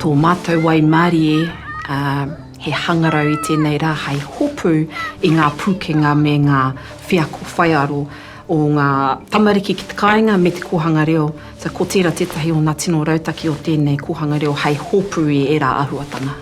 Tō mātou waimarie, ā, he hangarau i tēnei rā hai hopu i ngā pūkenga me ngā wheako whaiaro o ngā tamariki ki te kāinga me te kōhanga reo, so ko tērā tētahi o ngā tino rautaki o tēnei kōhanga reo hai hopu i ērā āhuatanga.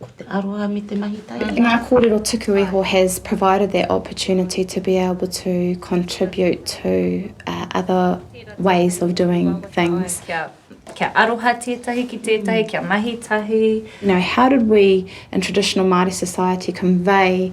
Ko te aroha me te mahi taere. Ngā kōrero tuku iho has provided that opportunity to be able to contribute to other ways of doing things. Kia aroha tētahi ki tētahi, kia mahi tahi. You know, how did we in traditional Māori society convey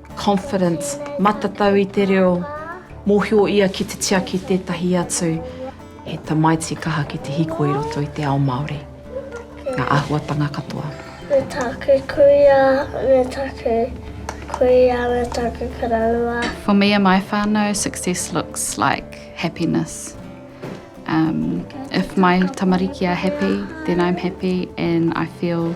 confidence, matatau i te reo, mōhio ia ki te tiaki tētahi atu, he tamaiti kaha ki te hiko i roto i te ao Māori. Ngā āhuatanga katoa. Me taku kuia, me taku kuia, me taku koroua. For me and my whānau, success looks like happiness. If my tamariki are happy, then I'm happy and I feel